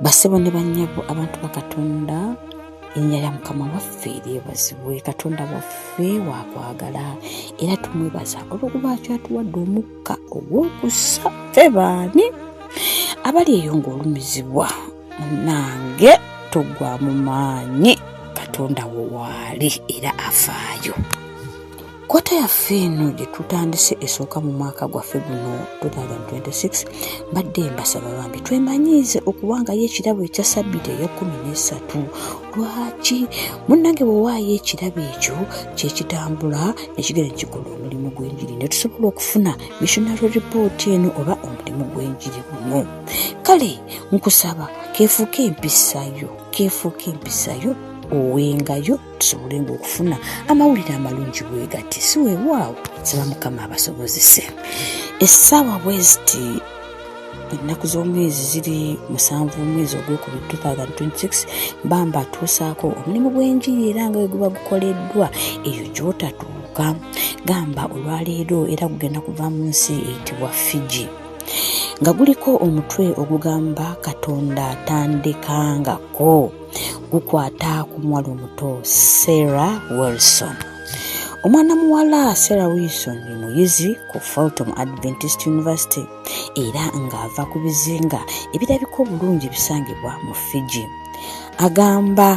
basebo ne banyabo abantu bakatonda erinnya lya mukama waffe lyebazibwe katonda waffe wakwagala era tumwebaza olwokuba kyatuwadde omukka ogw'okussa fe baani abali eyo ng'olumizibwa munange tugwa mu maanyi katonda wo waali era afaayo kota yaffe eno gye tutandise esooka mu mwaka gwaffe guno 2026 mbadde mbasaba bambi twemanyiize okuwangayo ekirabo ekya sabbiti eyekumi nesatu lwaki munnange bwewaayo ekirabo ekyo kyekitambula nekigera nekikola omulimu gw'enjiri netusobola okufuna missionary report eno oba omulimu gw'enjiri guno kale nkusaba kefuuka empisayo kefuuka empisayo owengayo tusobole nga okufuna amawulire amalungi wegati si wewaawo saba mukama abasobozese essaawa bweziti ennaku z'omwezi ziri musanvu omwezi ogwokubiri 2026 bamba atuusaako omulimu gw'enjiri era nga we guba gukoleddwa eyo gyotatuuka gamba olwaleero era kugenda kuva mu nsi eyitibwa fiji nga guliko omutwe ogugamba katonda tandikangako gukwata ku muwala omuto sarah wilson omwana muwala sarah wilson ye muyizi ku fulton adventist university era ng'ava ku bizinga ebirabika obulungi bisangibwa mu fiji agamba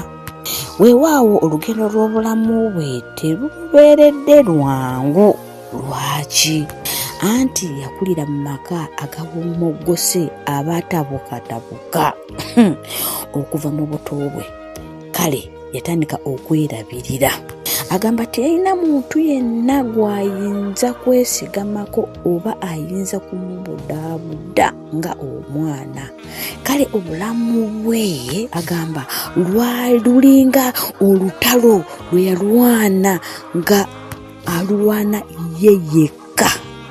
weewaawo olugendo lw'obulamu bwe terubeeredde lwangu lwaki anti yakulira mu maka agawummogose abaatabukatabuka okuva mu buto bwe kale yatandika okwerabirira agamba teyalina muntu yenna gw'ayinza kwesigamako oba ayinza kumubudaabuda nga omwana kale obulamu bwe agamba lwalulinga olutalo lwe yalwana nga alwana ye yekka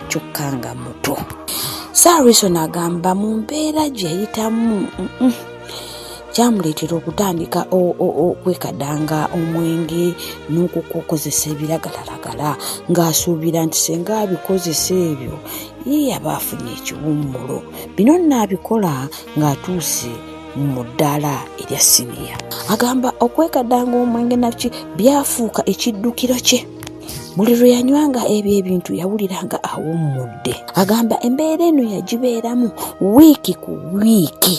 kyokka nga muto sarison agamba mu mbeera gye yayitamu kyamuleetera okutandika okwekadanga omwenge n'okukukozesa ebiragalalagala ng'asuubira nti senga abikozesa ebyo ye yaba afunye ekiwummulo bino nnaabikola ng'atuuse mu ddaala erya siniya agamba okwekadanga omwenge naki byafuuka ekiddukiro kye buli lwe yanywanga ebyo ebintu yawulira nga awummudde agamba embeera eno yagibeeramu wiiki ku wiiki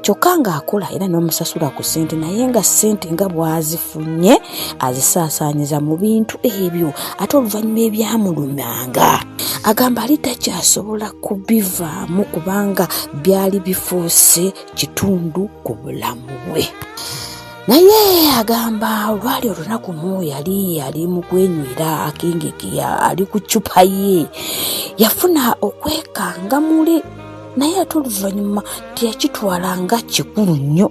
kyokka ng'akola era n'omusasula ku ssente naye nga ssente nga bwazifu funye azisaasaanyiza mu bintu ebyo ate oluvannyuma ebyamulumyanga agamba ali takyasobola kubivaamu kubanga byali bifuuse kitundu ku bulamu bwe naye agamba olwali olunaku mu yali ali mu kwenywera akengeke ali ku ccupa ye yafuna okwekanga muli naye ate oluvannyuma teyakitwala nga kikulu nnyo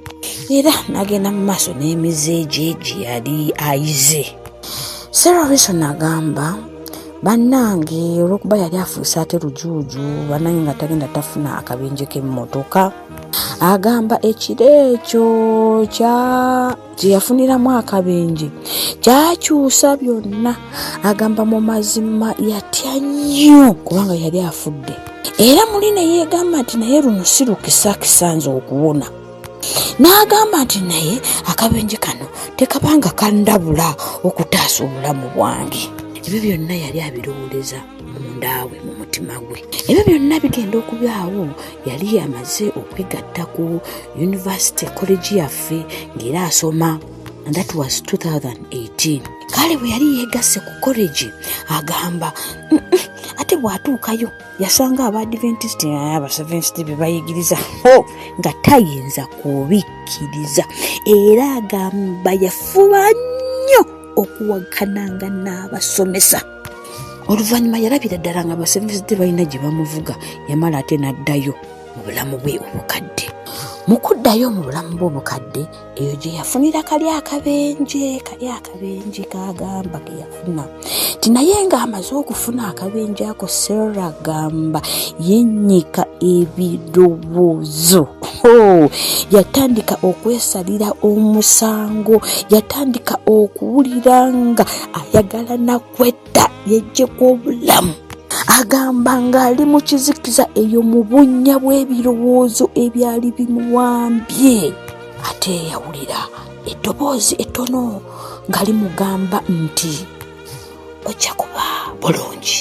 era n'agenda mu maaso n'emize egye gye yali ayize sarah rison agamba bannange olwokuba yali afuuse ate lujuuju bannange nga tagenda tafuna akabenje k'emmotoka agamba ekiro ekyo kya gye yafuniramu akabenje kyakyusa byonna agamba mu mazima yatya nnyo kubanga yali afudde era muli ne yeegamba nti naye luno si lukisa kisanze okuwona n'agamba nti naye akabenje kano tekabanga kandabula okutaasa obulamu bwange ebyo byonna yali abirowooleza mundaawe mu mutima gwe ebyo byonna bigenda okubaawo yali yamaze okwegatta ku yunivasite kolegi yaffe ng'era asoma and that was 2018 kale bwe yali yeegasse ku kolegi agamba ate bw'atuukayo yasanga abaadiventisti abasevensti be bayigiriza ho nga tayinza kubikkiriza era agamba yafuba nnyo okuwakananga n'abasomesa oluvannyuma yalabira ddala nga baseventh day balina gye bamuvuga yamala ate n'addayo mu bulamu bwe obukadde mu kuddayo mu bulamu bwe obukadde eyo gye yafunira kali akabenje kali akabenje kagamba ke yafuna ti naye ng'amaze okufuna akabenje ako sera gamba yennyika ebirowoozo Oh, yatandika okwesalira omusango yatandika okuwulira nga ayagala nakwetta yejjeko obulamu agamba ng'ali mu kizikiza eyo mu bunnya bw'ebirowoozo ebyali bimuwambye ate eyawulira eddoboozi ettono nga limugamba nti ojja kuba bulungi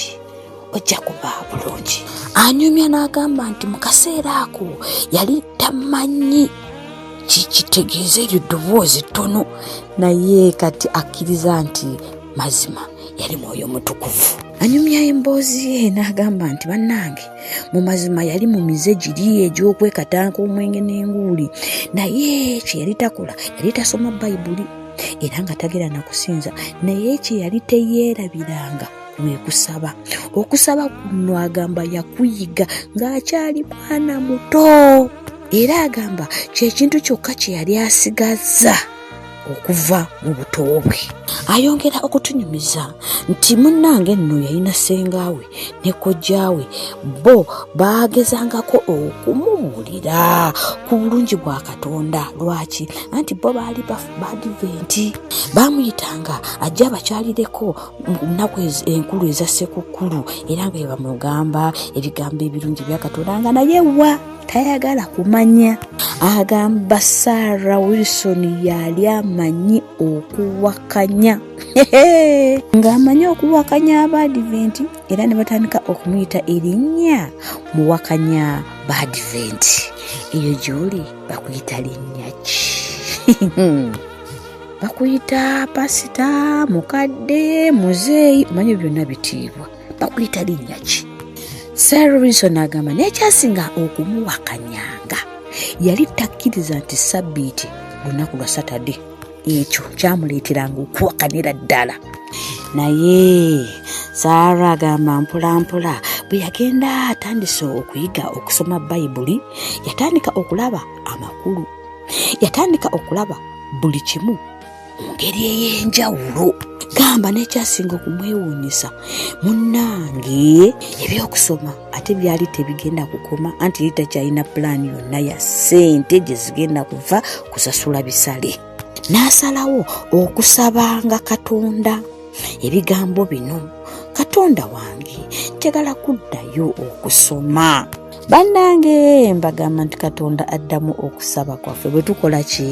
ojja kuba bulungi anyumya n'agamba nti mu kaseera ako yali tamanyi kikitegeeza eryo ddoboozi ttono naye kati akkiriza nti mazima yali mwoyo mutukuvu anyumya emboozi ye n'agamba nti bannange mu mazima yali mu mize giri egy'okwekatanka omwenge n'enguuli naye kye yali takola yali tasoma bayibuli era nga tagera na kusinza naye kye yali teyeerabiranga wekusaba okusaba kuno agamba yakuyiga ng'akyali mwana muto era agamba kyekintu kyokka kye yali asigazza okuva mu buto bwe ayongera okutunyumiza nti munnange nno yalina sengaawe ne kojjaawe bo baagezangako okumumulira ku bulungi bwa katonda lwaki anti bo baali badiventi baamuyitanga ajja abakyalireko nnaku enkulu eza ssekukkulu era nga bebamugamba ebigambo ebirungi byakatonda nga naye wa tayagala kumanya agamba sara wilson yali amanyi okuwakanya ng'amanyi okuwakanya abaadiventi era ne batandika okumuyita erinnya muwakanya baadiventi eyo gy'oli bakuyita linnya ki bakuyita pasita mukadde muzeeyi omanye byonna bitiibwa bakuyita linnya ki sir robinson agamba naye kyasinga okumuwakanyanga yali takkiriza nti sabbiiti lunaku lwa satade ekyo kyamuleeteranga okuwakanira ddala naye saara agamba mpolampola bwe yagenda atandise okuyiga okusoma bayibuli yatandika okulaba amakulu yatandika okulaba buli kimu mu ngeri ey'enjawulo gamba n'ekyasinga okumwewuunyisa munnange ebyokusoma ate byali tebigenda kukoma anti yali takyalina pulaani yonna ya ssente gye zigenda kuva kusasula bisale n'asalawo okusabanga katonda ebigambo bino katonda wange njagala kuddayo okusoma bannange mbagamba nti katonda addamu okusaba kwaffe bwe tukola ki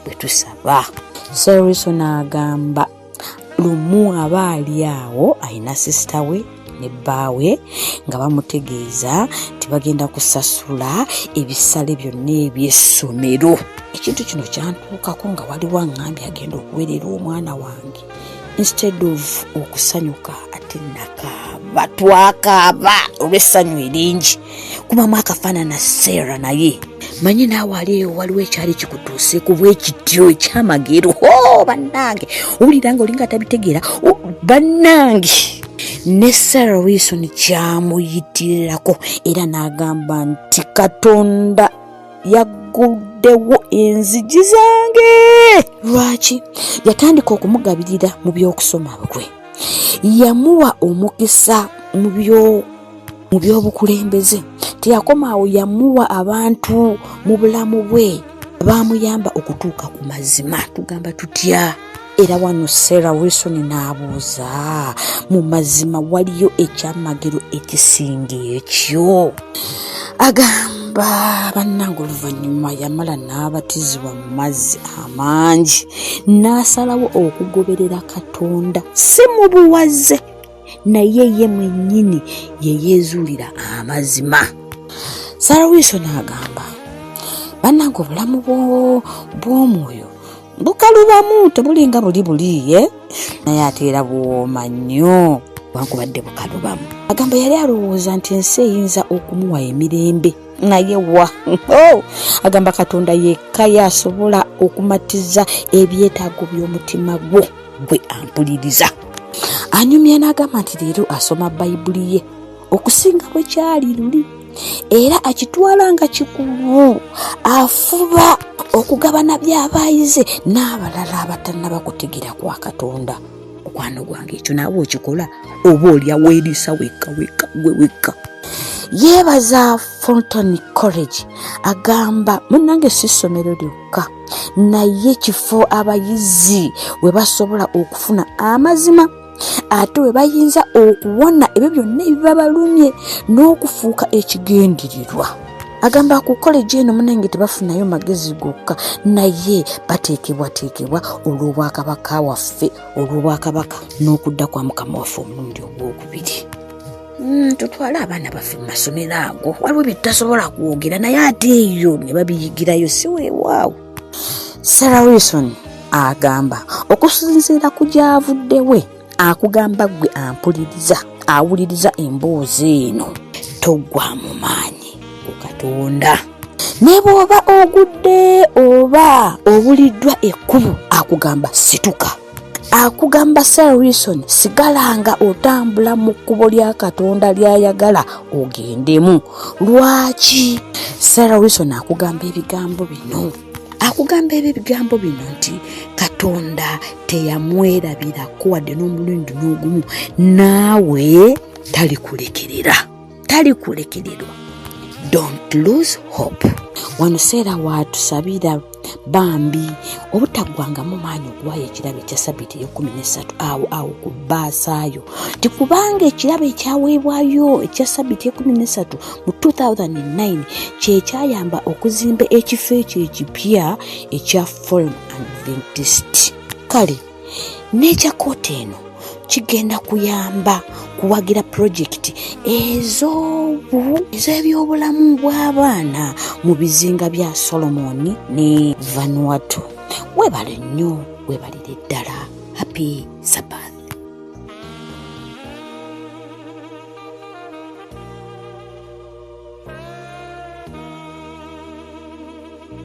bwe tusaba seriso n'agamba lumu aba ali awo alina sisita we ne bbaawe nga bamutegeeza nti bagenda kusasula ebisale byonna eby'essomero ekintu kino kyantuukako nga waliwo aŋŋambye agenda okuweerera omwana wange instead of okusanyuka ate nakaaba twakaaba olw'essanyu eringi kubamu akafaanana seera naye manyi naawe ali eyo waliwo ekyali kikutuuse ku bwekityo ekyamagero ho bannange owulira nga olinga tabitegeera bannange ne sarah wilson kyamuyitirirako era n'agamba nti katonda yagguddewo enzigi zange lwaki yatandika okumugabirira mu by'okusoma bwe yamuwa omukisa mu by'oku mu by'obukulembeze teyakoma awo yamuwa abantu mu bulamu bwe baamuyamba okutuuka ku mazima tugamba tutya era wano sarah wilson n'abuuza mu mazima waliyo ekyamagero ekisinga ekyo agamba bannanga oluvannyuma yamala n'abatizibwa mu mazzi amangi n'asalawo okugoberera katonda si mu buwaze naye ye mwennyini yeyeezuulira amazima sarah wilson agamba bannanga obulamu bw'omwoyo bukalubamu tebulinga buli buliye naye ate era buwooma nnyo wankubadde bukalubamu agamba yali alowooza nti ensi eyinza okumuwa emirembe naye wa oh! agamba katonda yekka yasobola okumatiza ebyetaago by'omutima gwo gwe ampuliriza anyumya n'agamba nti leero asoma bayibuli ye okusinga bwe kyali luli era akitwala nga kikulu afuba okugabana byabaayize n'abalala abatannaba kutegeera kwa katonda mukwano gwange ekyo naawe okikola oba olya weeriisa wekka wekka gwe wekka yeebaza fonton college agamba munange si ssomero lyokka naye kifo abayizi we basobola okufuna amazima ate bwe bayinza okuwona ebyo byonna ebiba balumye n'okufuuka ekigendererwa agamba ku koleji eno munange tebafunayo magezi gokka naye bateekebwateekebwa olw'obwakabaka waffe olw'obwakabaka n'okudda kwa mukama waffe omulundi ogwokubiri Mm, tutwale abaana baffe mu masomero ago waliwo bye tutasobola kwogera naye ate eyo ne babiyigirayo si weewaawo sarah wilson agamba okusinziira ku gyavudde we akugamba gwe ampuliriza awuliriza emboozi eno toggwa mu maanyi ku katonda ne bw'oba ogudde oba obuliddwa ekkubo akugamba situka akugamba sir wilson sigalanga otambula mu kkubo lya katonda lyayagala ogendemu lwaki sir wilson akugamba ebigambo bino akugamba ebyo ebigambo bino nti katonda teyamwerabirako wadde n'omulundi n'ogumu naawe talikulekerera talikulekererwa don't lose hope wano seera watusabira bambi obutaggwangamu maanyi okuwaayo ekirabo ekya sabiti eyekumi nesatu awo awo ku baasaayo nti kubanga ekirabo ekyaweebwayo ekya sabiti ekumi nesatu mu 2009 kyekyayamba okuzimba ekifo ekyo ekipya ekya form adventist kale n'ekya kooti eno kigenda kuyamba kuwagira pulojekiti ez'ebyobulamu bw'abaana mu bizinga bya solomoni ne vanuatu webale nnyo webalire ddala happy sabat